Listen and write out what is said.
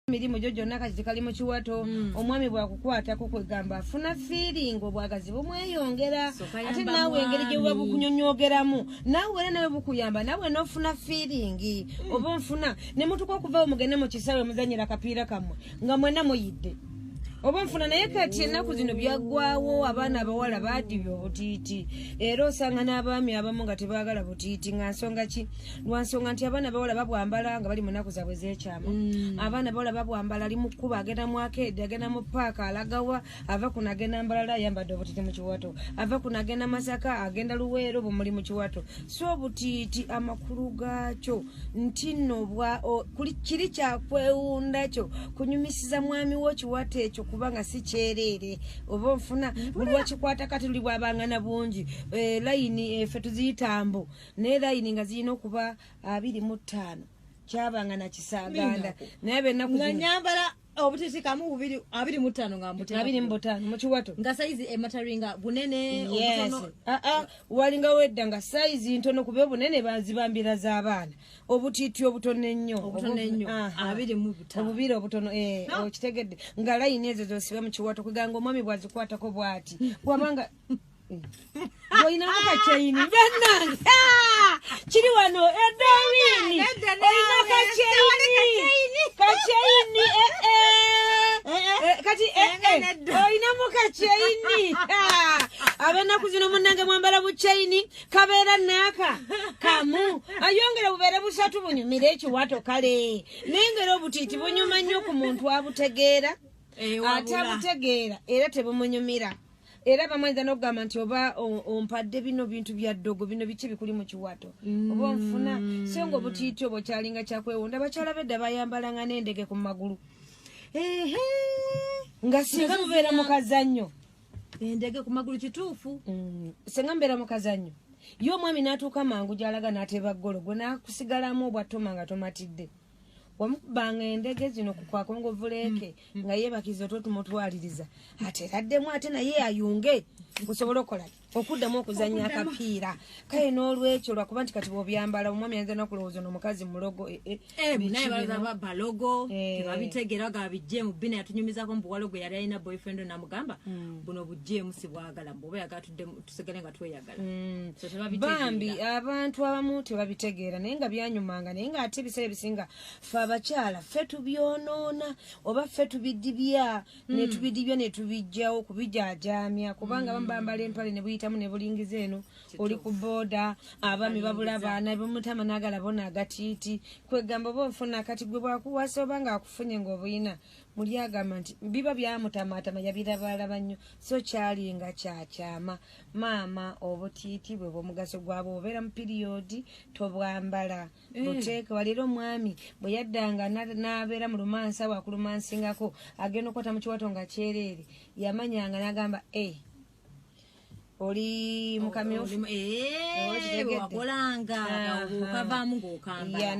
emirimu gyo gyonna kati tikali mu kiwato hmm. omwami bwakukwatako kwegamba afuna fiiringi obwagazi bumweyongera ate naawe engeri gye buba bukunyonyogeramu naawe era nawe bukuyamba naawe nofuna fiiringi hmm. oba onfuna ne mutuka okuvawo mugende mu kisaawe muzanyira akapiira kammwe nga mwena muyidde oba nfuna naye kati ennaku zino byaggwawo abaana abawala baadibya obutiiti era osanga n'abaami abamu nga tebaagala butiiti nga nsonga ki lwansonga nti abaana bawala babwambala nga bali munaku zabwe zekyama mm. abaana bawala babwambala ali mukuba agenda muakeedi agenda mu paaka alagawa ava kuno agenda mbalala ayambadde obutiti mu kiwato ava kuno agenda masaka agenda luweero bumuli mu kiwato so obutiiti amakulu gaakyo nti no kiri kyakwewunda kyo kunyumisiza mwami wo kiwato ekyo kubanga si kyereere oba onfuna buli wakikwata kati luli bwabangana bungi eh, layini efe eh, tuziyitambo naye layini nga zirina okuba abiri mu ttaano kyabanga nakisaaganda naye benaku nyambala obutitikamu bubiri abiri mu ttaano nga abiri mu butaano mu kiwato nga sayizi emataringa bunene yes ah, ah, walinga wedda nga sayizi ntono kuba obunene bazibambira z'abaana obutiiti obutono ennyo obutono ennyo abiri mu butaano obubiri obutono eh, okitegedde nga layini ezo zosiba mu kiwato kweganga omwami bwazikwatako bwati wabanga olinamu kakyeyini bannange kiri wano edowini olina kakyeyini kakyeyini kati olinamu kakyeyini abenaku zino munange mwambala bukyeyini kabeera naaka kamu ayongera bubeere busatu bunyumire ekiwato kale naye ngera obutiiti bunyuma nnyo ku muntu abutegeera ate abutegeera era tebumunyumira era abamu ayinza n'okugamba nti oba ompadde bino bintu bya ddogo bino biki bikuli mu kiwato oba onfuna mm. so nga obutiiti obwo kyalinga kyakwewunda abakyala bedda bayambalanga n'endege ku magulu nga singa mubeera mu kazannyo endege ku magulu kituufu mm. singa mubeera mu kazannyo ye omwami n'atuuka mangu gy'alaga n'ateeba ggolo gwe n'akusigalamu obwattoma nga tomatidde wamukubanga endege zino ku kwakongovuleeke mm, mm. nga yebakiza otwo tumutwaliriza ate eraddemu ate naye ayunge osobola okola okuddamu okuzanya akapiira kale n'olwekyo lwakuba nti kati bwobyambala omwami ayinza nakulowooza no mukazi mulogo eh, eh, eh, naye balaba balogo tebabitegeera ga bijjeemu bina yatunyumizako mbuwalogo yali alina boyfriend namugamba mm. buno bujjeemu sibwagala mbuoba yaga tusigale nga tweyagala mm. bambi abantu abamu tebabitegeera naye nga byanyumanga naye nga ate ebiseera ebisinga fe abakyala fe tubyonoona oba fe tubidibya mm. netubidibya netubijjawo kubijajaamya kubanga abamu bambala empale nebuyitamu nebulingiza eno oli ku booda abami babula baana bamutama nagala bona agatiiti kwegamba oba ofuna kati gwe bwakuwasa oba nga akufunye ngaobuyina muli agamba nti biba byamutamaatama yabirabalaba nnyo so kyali nga kyakyama maama obutiiti bwe bwomugaso gwabwe obeera mu piriyodi tobwambala eh. buteeke waleero omwami bwe yaddanga n'abeera mu lumansa wakulumansingako agenda okukwata mu kiwato nga kyereere yamanyanga n'agamba e eh, oli mukamyufu oh, eh, wakolanga ah, ah. okavaamu ng'okambala